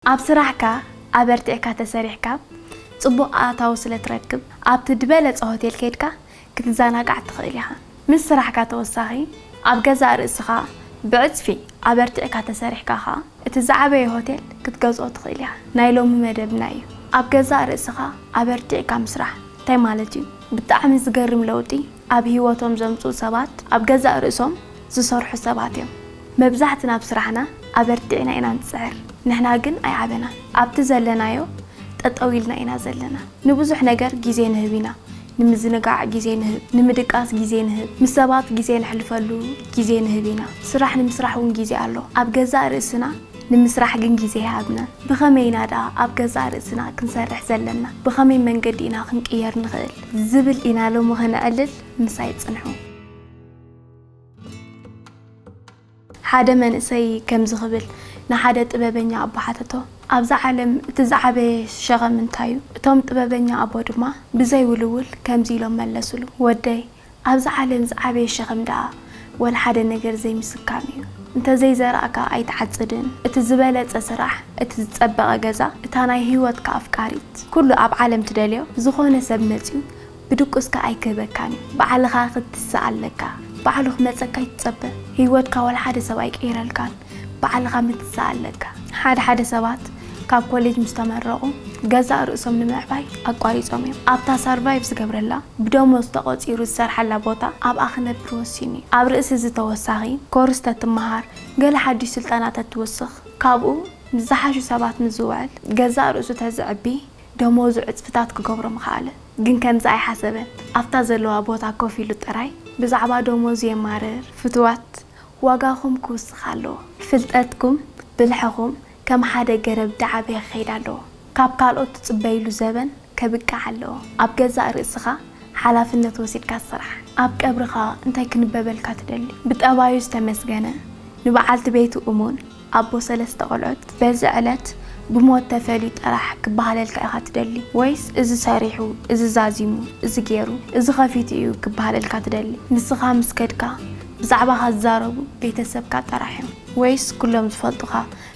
ኣብ ስራሕካ ኣበርቲዕካ ተሰሪሕካ ጽቡቕ ኣእታዊ ስለ ትረክብ፣ ኣብቲ ድበለጸ ሆቴል ከይድካ ክትዘናጋዕ ትኽእል ኢኻ። ምስ ስራሕካ ተወሳኺ ኣብ ገዛእ ርእስኻ ብዕጽፊ ኣበርቲዕካ ተሰሪሕካ ከኣ እቲ ዝዓበየ ሆቴል ክትገዝኦ ትኽእል ኢኻ። ናይ ሎሚ መደብና እዩ ኣብ ገዛእ ርእስኻ ኣበርቲዕካ ምስራሕ እንታይ ማለት እዩ? ብጣዕሚ ዝገርም ለውጢ! ኣብ ህይወቶም ዘምጽኡ ሰባት ኣብ ገዛእ ርእሶም ዝሰርሑ ሰባት እዮም። መብዛሕትና ኣብ ስራሕና ኣበርቲዕና ኢና ንጽዕር፣ ንሕና ግን ኣይዓበናን። ኣብቲ ዘለናዮ ጠጠው ኢልና ኢና ዘለና። ንብዙሕ ነገር ግዜ ንህብ ኢና፣ ንምዝንጋዕ ግዜ ንህብ፣ ንምድቃስ ግዜ ንህብ፣ ምስ ሰባት ግዜ ነሕልፈሉ ግዜ ንህብ ኢና። ስራሕ ንምስራሕ እውን ግዜ ኣሎ፣ ኣብ ገዛእ ርእስና ንምስራሕ ግን ግዜ ኣይሃብናን። ብኸመይ ኢና ደኣ ኣብ ገዛእ ርእስና ክንሰርሕ ዘለና? ብኸመይ መንገዲ ኢና ክንቅየር ንኽእል? ዝብል ኢና ሎሚ ከነዕልል ምሳይ ጽንሑ። ሓደ መንእሰይ ከምዚ ክብል ንሓደ ጥበበኛ ኣቦ ሓተቶ፣ ኣብዛ ዓለም እቲ ዝዓበየ ሸኸም እንታይ እዩ? እቶም ጥበበኛ ኣቦ ድማ ብዘይ ውልውል ከምዚ ኢሎም መለሱሉ፣ ወደይ! ኣብዛ ዓለም ዝዓበየ ሸኽም ደኣ ወላ ሓደ ነገር ዘይምስካም እዩ። እንተ ዘይዘራእካ ኣይትዓጽድን፣ እቲ ዝበለጸ ስራሕ፣ እቲ ዝጸበቐ ገዛ፣ እታ ናይ ህይወትካ ኣፍቃሪት፣ ኩሉ ኣብ ዓለም ትደልዮ ዝኾነ ሰብ መጺኡ ብድቁስካ ኣይክህበካን እዩ። ባዕልኻ ክትትስእ ኣለካ። ባዕሉ ክመጸካ ኣይትጸበ። ህይወትካ ወላ ሓደ ሰብ ኣይቅይረልካን። ባዕልኻ ምትሳእ ኣለካ። ሓደ ሓደ ሰባት ካብ ኮሌጅ ምስ ተመረቑ ገዛእ ርእሶም ንምዕባይ ኣቋሪጾም እዮም። ኣብታ ሳርቫይቭ ዝገብረላ ብደሞዝ ተቖጺሩ ዝሰርሓላ ቦታ ኣብኣ ክነብር ወሲኑ እዩ። ኣብ ርእሲ እዚ ተወሳኺ ኮርስ ተትመሃር፣ ገለ ሓድሽ ስልጠና ተትውስኽ፣ ካብኡ ምስ ዝሓሹ ሰባት ምስ ዝውዕል፣ ገዛእ ርእሱ ተዝዕቢ ደሞዙ ዕጽፍታት ክገብሮ ምኸኣለ። ግን ከምዚ ኣይሓሰበን። ኣብታ ዘለዋ ቦታ ኮፍ ኢሉ ጥራይ ብዛዕባ ደሞዙ የማርር። ፍቱዋት ዋጋኹም ክውስኽ ኣለዎ። ፍልጠትኩም፣ ብልሕኹም ከም ሓደ ገረብ ዳዓበየ ክኸይድ ኣለዎ። ካብ ካልኦት ትጽበይሉ ዘበን ከብቅዕ ኣለዎ። ኣብ ገዛእ ርእስኻ ሓላፍነት ወሲድካ ስራሕ። ኣብ ቀብርኻ እንታይ ክንበበልካ ትደሊ? ብጠባዩ ዝተመስገነ፣ ንበዓልቲ ቤቱ እሙን፣ ኣቦ ሰለስተ ቆልዑት በዚ ዕለት ብሞት ተፈልዩ ጥራሕ ክበሃለልካ ኢኻ ትደሊ ወይስ እዚ ሰሪሑ እዚ ዛዚሙ እዚ ጌሩ እዚ ከፊቱ እዩ ክበሃለልካ ትደሊ? ንስኻ ምስ ከድካ ብዛዕባኻ ዝዛረቡ ቤተሰብካ ጥራሕ እዮም ወይስ ኩሎም ዝፈልጡኻ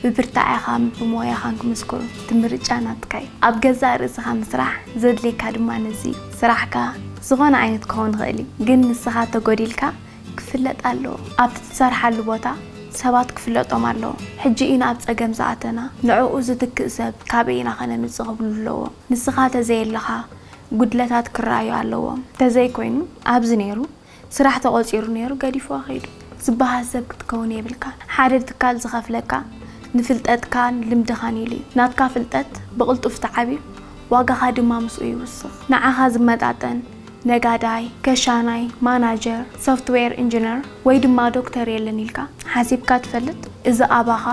ብብርታዔኻን ብሞያኻን ክምስክሩ? እቲ ምርጫ ናትካ እዩ። ኣብ ገዛእ ርእስኻ ምስራሕ ዘድልየካ ድማ ነዚ እዩ። ስራሕካ ዝኾነ ዓይነት ክኸውን ይኽእል እዩ ግን ንስኻ ተጎዲልካ ክፍለጥ ኣለዎ ኣብቲ ትሰርሓሉ ቦታ ሰባት ክፍለጦም ኣለዎ ሕጂ ኢና ኣብ ጸገም ዝኣተና ንዕኡ ዝትክእ ሰብ ካበይ ኢና ከነምጽእ ክብሉ ኣለዎም ንስኻ ተዘየለኻ ጉድለታት ክረኣዩ ኣለዎም ተዘይ ኮይኑ ኣብዚ ነይሩ ስራሕ ተቆጺሩ ነይሩ ገዲፍዋ ከይዱ ዝበሃል ሰብ ክትከውን የብልካን ሓደ ትካል ዝኸፍለካ ንፍልጠትካን ልምድኻን ኢሉ እዩ ናትካ ፍልጠት ብቅልጡፍ ተዓብዩ ዋጋኻ ድማ ምስኡ ይውስኽ ንዓኻ ዝመጣጠን ነጋዳይ፣ ከሻናይ፣ ማናጀር፣ ሶፍትዌር ኢንጂነር ወይ ድማ ዶክተር የለን ኢልካ ሓሲብካ ትፈልጥ? እዚ ኣባኻ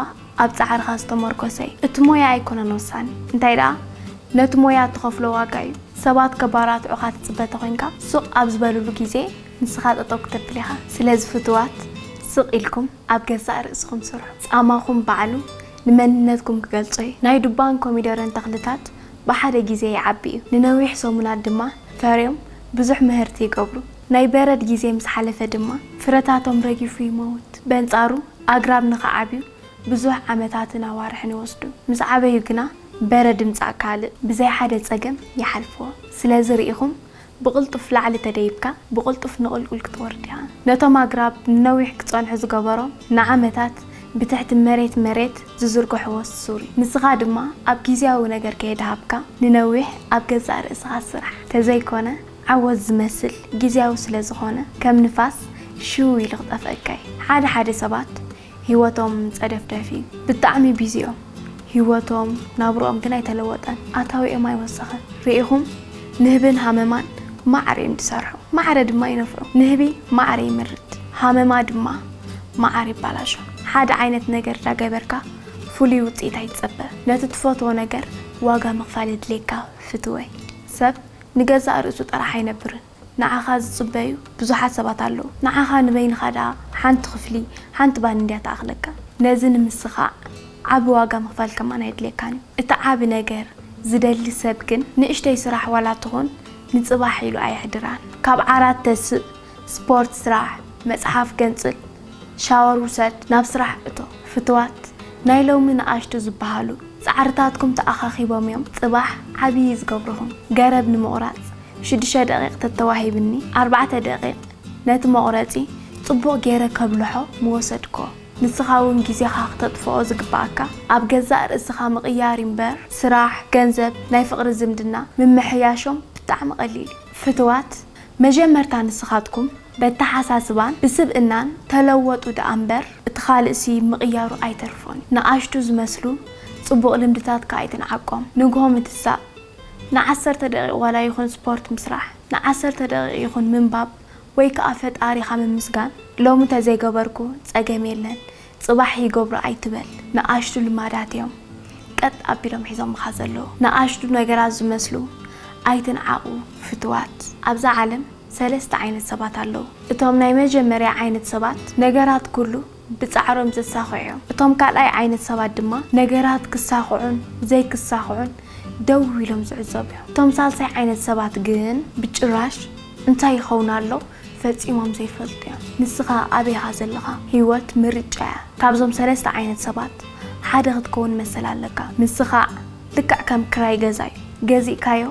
ኣብ ጻዕርኻ ዝተመርኮሰ እዩ። እቲ ሞያ ኣይኮነን ወሳኒ፣ እንታይ ደኣ ነቲ ሞያ እትኸፍሎ ዋጋ እዩ። ሰባት ከባራትዑኻ ትጽበ ተኾይንካ፣ ስቕ ኣብ ዝበልሉ ግዜ ንስኻ ጠጠው ክተብል ኢኻ። ስለዚ ፍቱዋት፣ ስቕ ኢልኩም ኣብ ገዛእ ርእስኹም ስርሑ። ጻማኹም ባዕሉ ንመንነትኩም ክገልጾ እዩ። ናይ ዱባን ኮሚደረን ተኽልታት ብሓደ ግዜ ይዓብዩ፣ ንነዊሕ ሰሙናት ድማ ፈርዮም ብዙሕ ምህርቲ ይገብሩ። ናይ በረድ ግዜ ምስ ሓለፈ ድማ ፍረታቶም ረጊፉ ይመውት። በንጻሩ ኣግራብ ንኽዓብዩ ብዙሕ ዓመታትን ኣዋርሕን ይወስዱ። ምስ ዓበዩ ግና በረድ ምጻእ ካልእ ብዘይ ሓደ ጸገም ይሓልፍዎ። ስለዚ ርኢኹም ብቕልጡፍ ላዕሊ ተደይብካ ብቕልጡፍ ንቕልቁል ክትወርድ ኢኻ። ነቶም ኣግራብ ንነዊሕ ክጸንሑ ዝገበሮም ንዓመታት ብትሕቲ መሬት መሬት ዝዝርግሕዎ ሱር እዩ። ንስኻ ድማ ኣብ ግዝያዊ ነገር ከየድሃብካ ንነዊሕ ኣብ ገዛእ ርእስኻ ስራሕ። ተዘይኮነ ዓወት ዝመስል ግዝያዊ ስለዝኾነ ከም ንፋስ ሽው ኢሉ ክጠፍኣካ እዩ። ሓደ ሓደ ሰባት ሂወቶም ጸደፍደፍ እዩ ብጣዕሚ ቢዚ እዮም ሂወቶም ናብርኦም ግን ኣይተለወጠን ኣታዊኦም ኣይወሰኸን ሪኢኹም ንህብን ሃመማን ማዕረ እዮም ዝሰርሑ ማዕረ ድማ ይነፍዑ ንህቢ ማዕረ ይምርት ሃመማ ድማ ማዓር ይባላሾ ሓደ ዓይነት ነገር ዳገበርካ ፍሉይ ውጽኢት ኣይትጸበ ነቲ ትፈትዎ ነገር ዋጋ ምኽፋል የድልየካ ፍትወይ ሰብ ንገዛእ ርእሱ ጥራሕ ኣይነብርን። ንዓኻ ዝጽበዩ ብዙሓት ሰባት ኣለዉ። ንዓኻ ንበይንኻ ደኣ ሓንቲ ክፍሊ፣ ሓንቲ ባኒ እንድያ ትኣኽለካ። ነዚ ንምስኻዕ ዓቢ ዋጋ ምኽፋል ከማን ኣየድልየካን እዩ። እቲ ዓቢ ነገር ዝደሊ ሰብ ግን ንእሽተይ ስራሕ ዋላ ትኹን ንጽባሕ ኢሉ ኣየሕድራን። ካብ ዓራት ተስእ፣ ስፖርት ስራሕ፣ መጽሓፍ ገንጽል፣ ሻወር ውሰድ፣ ናብ ስራሕ እቶ። ፍቱዋት፣ ናይ ሎሚ ንኣሽቱ ዝበሃሉ ጻዕርታትኩም ተኣኻኺቦም እዮም ጽባሕ ዓብዪ ዝገብሩኹም። ገረብ ንምቑራጽ፣ ሽዱሽተ ደቒቕ ተተዋሂብኒ ኣርባዕተ ደቒቕ ነቲ መቑረጺ ጽቡቕ ጌረ ከብልሖ ምወሰድኮ። ንስኻ ውን ግዜኻ ክተጥፍኦ ዝግብኣካ ኣብ ገዛእ ርእስኻ ምቕያር ዩ ምበር ስራሕ፣ ገንዘብ፣ ናይ ፍቕሪ ዝምድና ምምሕያሾም ብጣዕሚ ቀሊል ዩ። ፍትዋት መጀመርታ ንስኻትኩም በተሓሳስባን ብስብእናን ተለወጡ ደኣ ምበር እቲ ካልእሲ ምቕያሩ ኣይተርፎን ዩ። ንኣሽቱ ዝመስሉ ጽቡቕ ልምድታትካ ኣይትንዓቆም ንግሆ ምትሳእ፣ ንዓሰርተ ደቒቕ ዋላ ይኹን ስፖርት ምስራሕ፣ ንዓሰርተ ደቒቕ ይኹን ምንባብ ወይ ከኣ ፈጣሪኻ ምምስጋን ሎሚ እንተዘይገበርኩ ጸገም የለን ጽባሕ ይገብሮ ኣይትበል። ንኣሽቱ ልማዳት'ዮም ቀጥ ኣቢሎም ሒዞምኻ ዘለዉ። ንኣሽቱ ነገራት ዝመስሉ ኣይትንዓቑ ፍቱዋት። ኣብዛ ዓለም ሰለስተ ዓይነት ሰባት ኣለዉ። እቶም ናይ መጀመርያ ዓይነት ሰባት ነገራት ኩሉ ብጻዕሮም ዘሳኽዑ እቶም ካልኣይ ዓይነት ሰባት ድማ ነገራት ክሳኽዑን ዘይክሳኽዑን ደው ኢሎም ዝዕዘቡ እዮም። እቶም ሳልሳይ ዓይነት ሰባት ግን ብጭራሽ እንታይ ይኸውን ኣሎ ፈጺሞም ዘይፈልጡ እዮም። ንስኻ ኣበይ ኢኻ ዘለኻ? ህይወት ምርጫ እያ። ካብዞም ሰለስተ ዓይነት ሰባት ሓደ ክትከውን መሰል ኣለካ። ምስኻዕ ልክዕ ከም ክራይ ገዛ እዩ። ገዚእካዮ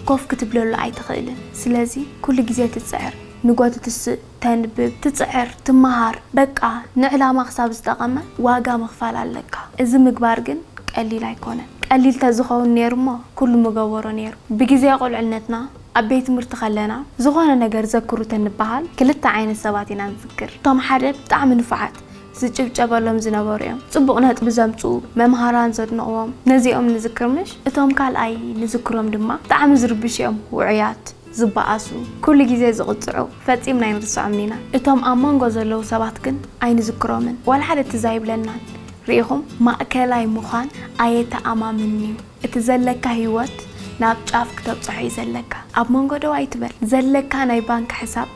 ኮፍ ክትብለሉ ኣይትኽእልን። ስለዚ ኩሉ ግዜ ትጽዕር፣ ንጎ ትትስእ፣ ተንብብ ትጽዕር ትመሃር በቃ ንዕላማ ክሳብ ዝጠቐመ ዋጋ ምኽፋል ኣለካ እዚ ምግባር ግን ቀሊል ኣይኮነን ቀሊል ተዝኸውን ኔሩ እሞ ኩሉ ምገበሮ ኔሩ ብግዜ ቁልዕነትና ኣብ ቤት ትምህርቲ ከለና ዝኾነ ነገር ዘክሩ ተንበሃል ክልተ ዓይነት ሰባት ኢና ንዝክር እቶም ሓደ ብጣዕሚ ንፉዓት ዝጭብጨበሎም ዝነበሩ እዮም ጽቡቕ ነጥቢ ዘምጽኡ መምሃራን ዘድንቕዎም ነዚኦም ንዝክር ምሽ እቶም ካልኣይ ንዝክሮም ድማ ብጣዕሚ ዝርብሹ እዮም ውዑያት ዝበኣሱ፣ ኩሉ ግዜ ዝቕጽዑ፣ ፈጺምና ኣይንርስዖምን ኢና። እቶም ኣብ መንጎ ዘለዉ ሰባት ግን ኣይንዝክሮምን፣ ዋላ ሓደ ትዝ ኣይብለናን። ርኢኹም? ማእከላይ ምዃን ኣየተኣማምንን'ዩ። እቲ ዘለካ ህይወት ናብ ጫፍ ክተብጽሖ'ዩ ዘለካ። ኣብ መንጎ ደው ኣይትበል። ዘለካ ናይ ባንክ ሕሳብ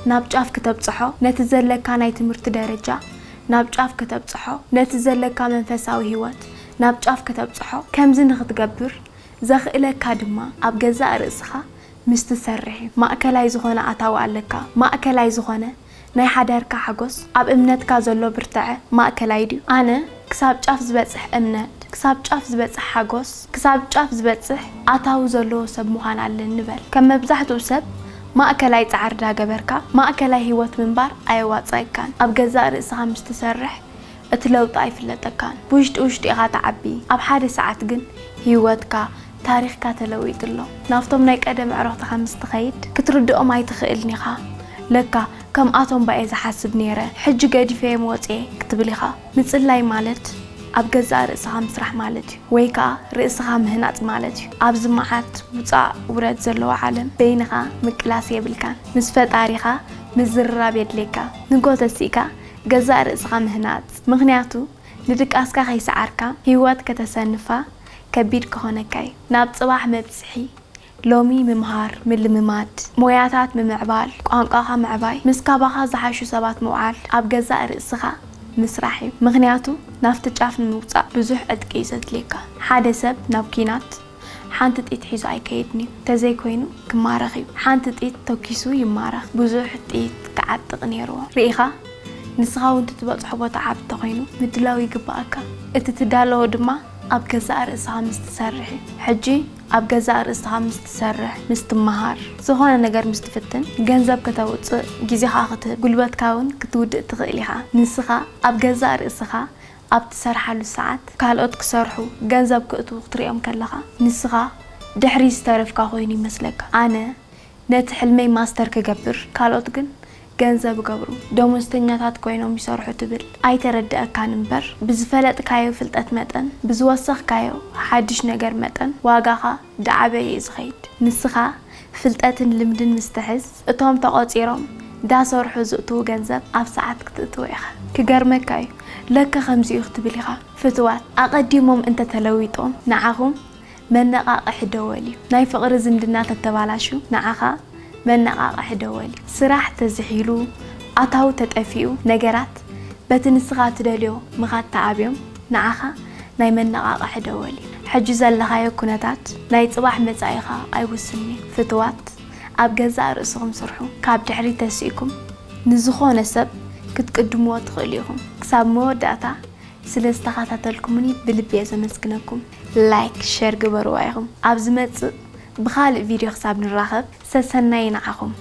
ናብ ጫፍ ክተብጽሖ፣ ነቲ ዘለካ ናይ ትምህርቲ ደረጃ ናብ ጫፍ ክተብጽሖ፣ ነቲ ዘለካ መንፈሳዊ ህይወት ናብ ጫፍ ክተብጽሖ፣ ከምዚ ንኽትገብር ዘኽእለካ ድማ ኣብ ገዛእ ርእስኻ ምስ ትሰርሕ እዩ። ማእከላይ ዝኾነ ኣታዊ ኣለካ? ማእከላይ ዝኾነ ናይ ሓዳርካ ሓጎስ? ኣብ እምነትካ ዘሎ ብርታዐ ማእከላይ ድዩ? ኣነ ክሳብ ጫፍ ዝበጽሕ እምነት፣ ክሳብ ጫፍ ዝበጽሕ ሓጎስ፣ ክሳብ ጫፍ ዝበጽሕ ኣታዊ ዘለዎ ሰብ ምዃን ኣለኒ በል። ከም መብዛሕትኡ ሰብ ማእከላይ ጻዕሪ ዳገበርካ ማእከላይ ህይወት ምንባር ኣየዋጽኣካን። ኣብ ገዛእ ርእስኻ ምስ ትሰርሕ እቲ ለውጢ ኣይፍለጠካን ብውሽጢ ውሽጢ ኢኻ ትዓቢ ኣብ ሓደ ሰዓት ግን ሂወትካ ታሪኽካ ተለዊጡ ኣሎ ናብቶም ናይ ቀደም ኣዕሩኽትኻ ምስ ትኸይድ ክትርድኦም ኣይትኽእልን ኢኻ ለካ ከምኣቶም ባየ ዝሓስብ ኔረ ሕጂ ገዲፈዮም ወጽየ ክትብል ኢኻ ምጽላይ ማለት ኣብ ገዛእ ርእስኻ ምስራሕ ማለት እዩ ወይ ከኣ ርእስኻ ምህናጽ ማለት እዩ ኣብዚ መዓት ውጻእ ውረድ ዘለዎ ዓለም በይንኻ ምቅላስ የብልካን ምስ ፈጣሪኻ ምዝርራብ የድልየካ ንጎተ ሲእካ ገዛእ ርእስኻ ምህናጽ ምኽንያቱ ንድቃስካ ከይሰዓርካ ሂወት ከተሰንፋ ከቢድ ክኾነካ ዩ ናብ ጽባሕ መብጽሒ ሎሚ ምምሃር ምልምማድ ሞያታት ምምዕባል ቋንቋኻ ምዕባይ ምስ ካባኻ ዝሓሹ ሰባት ምውዓል ኣብ ገዛእ ርእስኻ ምስራሕ ዩ ምኽንያቱ ናፍቲ ጫፍ ንምውጻእ ብዙሕ ዕጥቂ ዩ ዘድልየካ ሓደ ሰብ ናብ ኩናት ሓንቲ ጥይት ሒዙ ኣይከይድን'ዩ፣ እንተዘይኮይኑ ክማረኽ'ዩ፣ ሓንቲ ጥይት ተኲሱ ይማረኽ፣ ብዙሕ ጥይት ክዓጥቕ ኔርዎ። ርኢኻ፣ ንስኻ'ውን ትትበጽሖ ቦታ ዓቢ እንተኾይኑ ምድላው ይግብኣካ፣ እቲ ትዳለዎ ድማ ኣብ ገዛእ ርእስኻ ምስ ትሰርሕ'ዩ፣ ሕጂ ኣብ ገዛእ ርእስኻ ምስ ትሰርሕ፣ ምስ ትመሃር፣ ዝኾነ ነገር ምስ ትፍትን፣ ገንዘብ ከተውጽእ፣ ግዜኻ ክትህብ፣ ጉልበትካ'ውን ክትውድእ ትኽእል ኢኻ፣ ንስኻ ኣብ ገዛእ ርእስኻ ኣብ ትሰርሓሉ ሰዓት ካልኦት ክሰርሑ ገንዘብ ክእትዉ ክትሪኦም ከለኻ ንስኻ ድሕሪት ዝተረፍካ ኮይኑ ይመስለካ። ኣነ ነቲ ሕልመይ ማስተር ክገብር ካልኦት ግን ገንዘብ እገብሩ ደሞዝተኛታት ኮይኖም ይሰርሑ ትብል ኣይተረደኣካን እምበር ብዝፈለጥካዮ ፍልጠት መጠን ብዝወሰኽካዮ ሓድሽ ነገር መጠን ዋጋኻ ዳዓበየ እዩ ዝኸይድ ንስኻ ፍልጠትን ልምድን ምስ ትሕዝ እቶም ተቖጺሮም ዳሰርሑ ዝእትዉ ገንዘብ ኣብ ሰዓት ክትእትዎ ኢኻ። ክገርመካ እዩ ለከ ከምዚ እዩ ክትብል ኢኻ ፍትዋት ኣቐዲሞም እንተ ተለዊጦም ንዓኹም መነቓቕሒ ደወል እዩ ናይ ፍቕሪ ዝምድና ተተባላሹ ንዓኻ መነቓቕሒ ደወል እዩ ስራሕ ተዝሒሉ ኣታዊ ተጠፊኡ ነገራት በቲ ንስኻ ትደልዮ ምኻድ ተኣብዮም ንዓኻ ናይ መነቓቕሒ ደወል እዩ። ሕጂ ዘለኻዮ ኩነታት ናይ ጽባሕ መጻኢኻ ኣይውስንን እዩ። ፍትዋት ኣብ ገዛእ ርእስኹም ስርሑ። ካብ ድሕሪት ተሲእኩም ንዝኾነ ሰብ ክትቅድምዎ ትኽእሉ ኢኹም። ክሳብ መወዳእታ ስለ ዝተኻታተልኩምኒ ብልቢ እየ ዘመስግነኩም። ላይክ ሸር ግበርዋ ኢኹም። ኣብ ዝመጽእ ብኻልእ ቪድዮ ክሳብ ንራኸብ ሰሰናዩ ንዓኹም።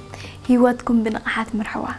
ሂወትኩም ብንቕሓት ምርሕዋ።